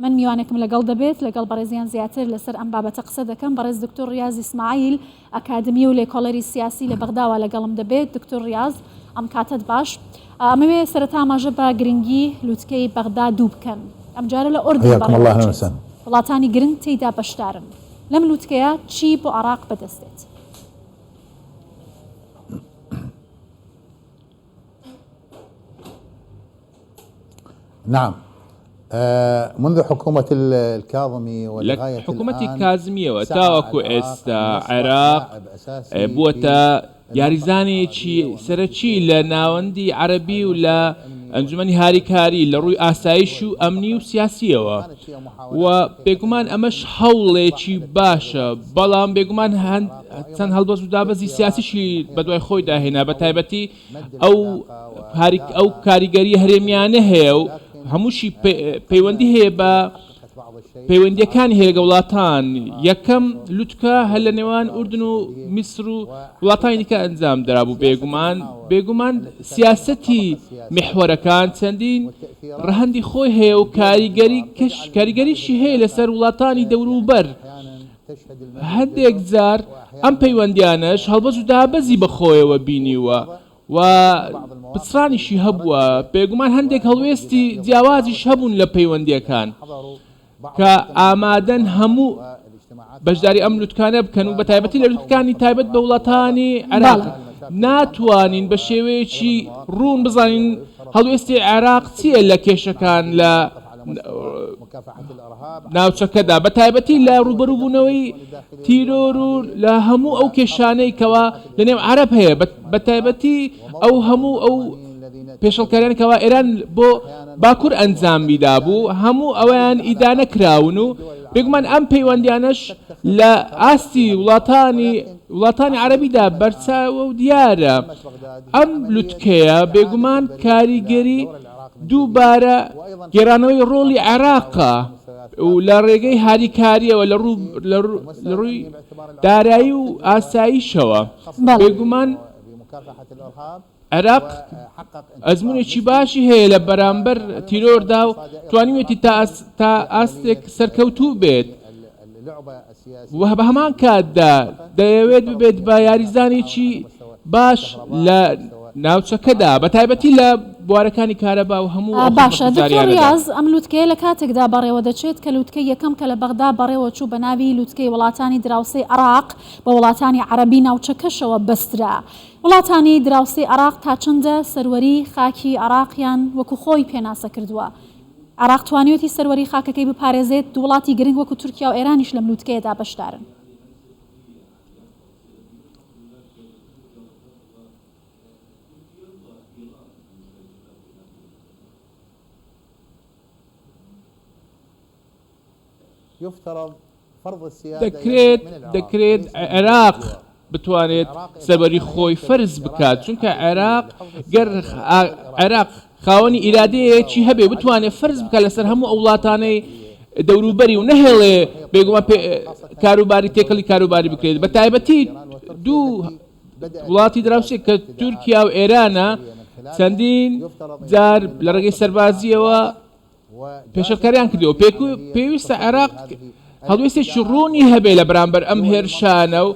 من میوانێکم لەگەڵ دەبێت لەگەڵ بەڕێزیان زیاتر لەسەر ئەم بابەتە قسە دەکەم، بەڕێز دکتور ڕیاز ئیسماعیل ئەکادمی و لێکۆڵەری سیاسی لە بەغداوە لەگەڵم دەبێت، دکتور ڕیاز ئەم کاتەت باش. ئەمەوێ سەرەتا ئاماژە بە گرنگی لوتکەی بەغدا دوو بکەم، ئەمجارە لە ئەردەن بەڕێوە دەچێت، وڵاتانی گرنگ تێیدا بەشدارن، لەم لوتکەیە چی بۆ عێراق بەدەست دێت؟ نعم منذ حکومەت الکاظمی لە حکومەتی کازمیەوە تاوەکو ئێستا عێراق بووەتە یاریزانێکی سەرەکی لە ناوەندی عەرەبی و لە ئەنجومەنی هاریکاری لە ڕووی ئاسایش و ئەمنی و سیاسیەوە و بێگومان ئەمەش هەوڵێکی باشە بەڵام بێگومان هەند چەند هەڵبەست و دابەزی سیاسیشی بەدوای خۆیدا هێنا بە تایبەتی ئەو ئەو کاریگەری هەرێمیانە هەیە و هەمووشی پەیوەندی هەیە بە پەیوەندیەکانی هەیە لەگە وڵاتان یەکەم لوتکە هەر لە نێوان ئوردن و میسر و وڵاتانی کە ئەنجام درابوو بێگومان بێگومان سیاستی مححوەرەکان چەندین ڕەهندی خۆی هەیە و کاریگەری کەش کاریگەریشی هەیە لەسەر وڵاتانی دەوروبەر هەندێک جار ئەم پەیوەندییانەش هەڵبەز و دابەزی بە خۆیەوە بینیووە و پچڕانیشی هەبووە، بێگومان هەندێک هەڵوێستی جیاوازیش هەبوون لە پەیوەندییەکان کە ئامادەن هەموو بەشداری ئەم لوتکانە بکەن و بەتایبەتی لە لوتکەکانی تایبەت بە وڵاتانی عێراق بەڵێ. ناتوانین بە شێوەیەکی ڕوون بزانین هەڵوێستی عێراق چییە لە کێشەکان لە ناوچەکەدا بە تایبەتی لە ڕوبەروبونەوەی تیرۆر و لە هەموو ئەو کێشانەی کەوا لە نێو عەرەب هەیە بە تایبەتی ئەو هەموو ئەو پێشڵکاریان کەوا ئێران بۆ باکوور ئەنجامی دابوو هەموو ئەویان ئیدانە کراون و بێگومان ئەم پەیوەندیانەش لە ئاستی وڵاتانی وڵاتانی عەربیدا بەرچاوە و دیارە ئەم لوتکەیە بێگومان کاریگەری دووبارە گێرانەوەی ڕۆڵی عێراقە و لە ڕێگەی هاریکارییەوە لە ڕووی دارایی و ئاساییشەوە بێگومان عێراق ئەزمونێکی باشی هەیە لە بەرامبەر تیرۆردا و توانیوێتی تا ئاستێک سەرکەوتوو بێت. و بەهەمان کاتدا دەیەوێت ببێت بە یاریزانێکی باش لە ناوچەکەدا بەتایبەتی لە بوارەکانی کارەبا و هەموو ئەو باشە دکتۆر خزمەتگوزاریانەدا. ریاز ئەم لوتکەیە لە کاتێکدا بەڕێوە دەچێت کە لوتکەی یەکەم کە لە بەغدا بەڕێوە چوو بە ناوی لوتکەی وڵاتانی دراوسێی عێراق بە وڵاتانی عەرەبی ناوچەکەشەوە بەسترا. وڵاتانی دراوسێی عێراق تا چەندە سەروەریی خاکی عێراقیان وەکوو خۆی پێناسە کردووە؟ عێراق توانیویەتی سەروەریی خاکەکەی بپارێزێت، دوو وڵاتی گرنگ وەکو تورکیا و ئێرانیش لەم لووتکەیەدا بەشدارن. دەکرێت دەکرێت عێراق بتوانێت سەروەری خۆی فەرز بکات چونکە عێراق گەر عێراق خاوەنی ئیرادەیەکی هەبێ بتوانێت فەرز بکە لەسەر هەموو ئەو وڵاتانەی دەوروبەری و نەهێڵێ بێگومان کاروباری تێکەڵی کاروباری بکرێت بە تایبەتی دوو وڵاتی دراوسێ کە تورکیا و ئێرانە چەندین جار لە ڕێگەی سەربازیەوە پێشێلکاریان کردووە و پێویستە عێراق هەڵوێستێکی ڕوونی هەبێت لە بەرامبەر ئەم هێرشانە و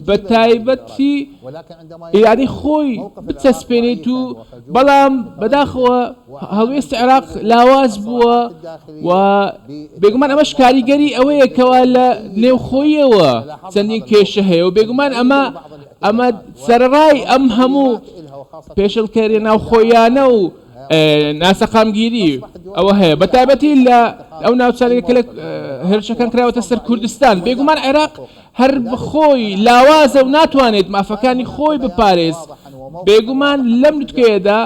بەتایبەتی ئیرادەی خۆی بچەسپێنێت و بەڵام بەداخەوە هەڵوێستی عێراق لاواز بووە و بێگومان ئەمەش کاریگەری ئەوەیە کەوا لە نێوخۆیەوە چەندین کێشە هەیە و بێگومان ئەمە ئەمە سەرڕای ئەم هەموو پێشلکەری ناوخۆیانە و ناسەقامگیری ئەوە هەیە بە تایبەتی لە ئەو ناوچارەیە کە لە هێرشەکان کراوەتە سەر کوردستان بێگومان عێراق هەر بخۆی لاوازە و ناتوانێت مافەکانی خۆی بپارێز بێگومان لەم نوتکەیەدا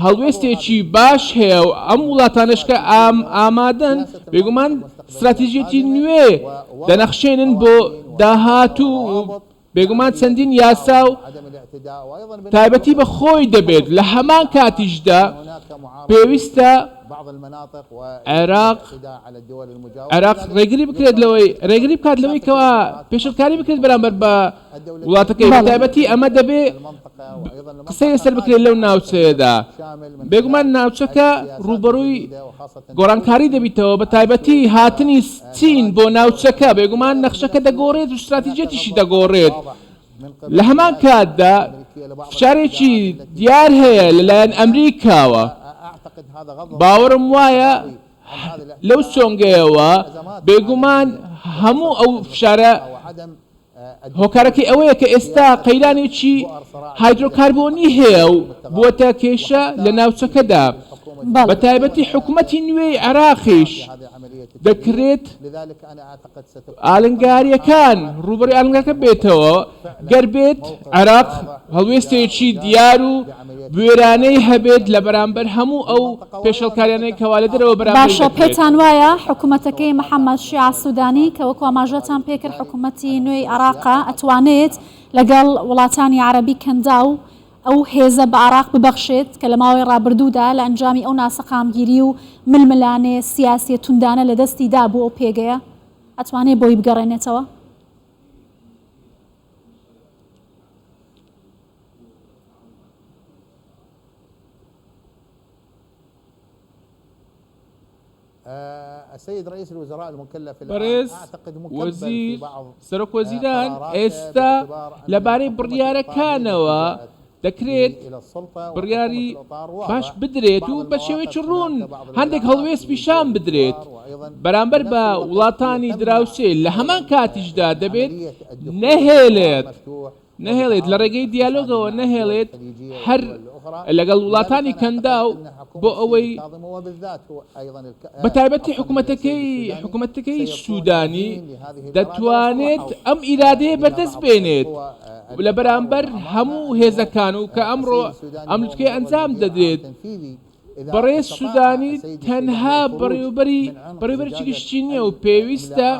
هەڵوێستێکی باش هەیە و ئەم وڵاتانش کە ئام ئامادەن بێگومان استراتیژێتی نوێ دەنەخشێنن بۆ داهات و بێگومان چەندین یاسا و تایبەتی بە خۆی دەبێت، لە هەمان کاتیشدا پێویستە عێراق عێراق ڕێگری بکرێت لەوەی ڕێگری بکات لەوەی کەوا پێشلکاری بکرێت بەرامبەر بە وڵاتەکەی بە تایبەتی ئەمە دەبێ قسەی لەسەر بکرێت لەو ناوچەیەدا بێگومان ناوچەکە ڕووبەڕووی گۆڕانکاری دەبیتەوە بە تایبەتی هاتنی چین بۆ ناوچەکە، بێگومان نەخشەکە دەگۆڕێت و ستراتیجیەتیشی دەگۆڕێت، لە هەمان کاتدا فشارێکی دیار هەیە لەلایەن ئەمریکاوە، باوەڕم وایە لەو سۆنگەیەوە بێگومان هەموو ئەو فشارە هۆکارەکەی ئەوەیە کە ئێستا قەیرانێکی هایدرۆکاربۆنی هەیە و بووەتە کێشە لە ناوچەکەدا، بەتایبەتی حکومەتی نوێی عێراقیش دەکرێت ئالنگارییەکان ڕووبەڕووی ئالنگارییەکان بێتەوە، گەر بێت عێراق هەڵوێستێکی دیار و بوێرانەی هەبێت لە بەرامبەر هەموو ئەو پێشێڵکاریانەی کەوا لە دەرەوە بەرامبەری دەکرێت. باشە پێتان وایە حکومەتەکەی محمد شیاع سودانی کە وەکو ئاماژەتان پێ کرد حکومەتی نوێی عێراقە ئەتوانێت لەگەڵ وڵاتانی عەرەبی کەنداو ئەو هێزە بە عێراق ببەخشێت کە لە ماوەی ڕابردوودا لە ئەنجامی ئەو ناسەقامگیری و ململانێ سیاسیە توندانە لە دەستی دابوو ئەو پێگەیە ئەتوانێت بۆی بگەڕێنێتەوە؟ بەڕێز وەزیر سەرۆک وەزیران ئێستا لەبارەی بڕیارەکانەوە دەکرێت بڕیاری باش بدرێت و بە شێوەیەکی ڕوون هەندێک هەڵوێست پیشان بدرێت بەرامبەر بە وڵاتانی دراوسێ لە هەمان کاتیشدا دەبێت نەهێلێت نەهێڵێت لە ڕێگەی دیالۆگەوە نەهێڵێت هەر لەگەڵ وڵاتانی کەنداو بۆ ئەوەی بەتایبەتی حکوومەتەکەی حکوومەتەکەی سوودانی دەتوانێت ئەم ئیرادەیە بەردەست بێنێت لە بەرامبەر هەموو هێزەکان و کە ئەمڕۆ ئەم لوتکەی ئەنجام دەدرێت بەڕێز سوودانی تەنها بەڕێوبەری بەڕێوبەرێکی گشتی نییە و پێویستە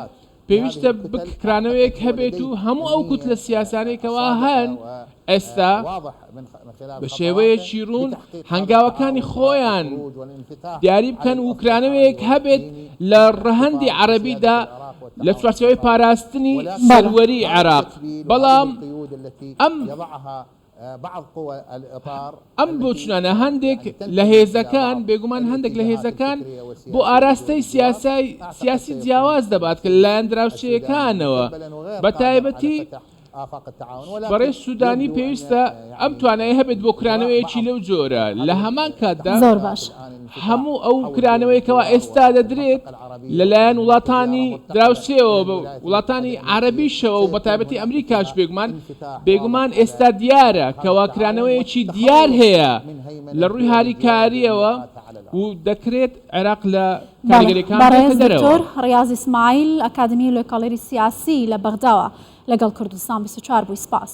پێویستە بککرانەوەیەک هەبێت و هەموو ئەو کوتلە سیاسانەی کەوا هەن ئێستا بە شێوەیەکی روون هەنگاوەکانی خۆیان دیاری بکەن و کرانەوەیەک هەبێت لە رەهەندی عەرەبیدا لە چوارچێوەی پاراستنی سەروەری عێراق بەڵام ئەم ئەم بۆچونانە هەندێک لە هێزەکان، بێگومان هەندێک لە هێزەکان بۆ ئاراستەی سیاسای سیاسی جیاواز دەبات کە لەلایەن دراوسێیەکانەوە بە تایبەتی بەڕێز سودانی پێویستە ئەم توانایە هەبێت بۆ کرانەوەیەکی لەو جۆرە لە هەمان کاتدا. هەموو ئەو کرانەوەی کەوا ئێستا دەدرێت لەلایەن وڵاتانی دراوسێەوە بە وڵاتانی عربیشەوە و بەتابەتی ئەمریکاش بێگومان بێگومان ئێستا دیارە کەوا کرانەوەیەکی دیار هەیە لە ڕووی هاریکاریەوە و دەکرێت عێراق لە دکتۆر ڕاضی سمایل ئەکادمی لە کاڵێری سیاسی لە بەغداوە لەگەڵ کوردستان چوار بووی سپاس.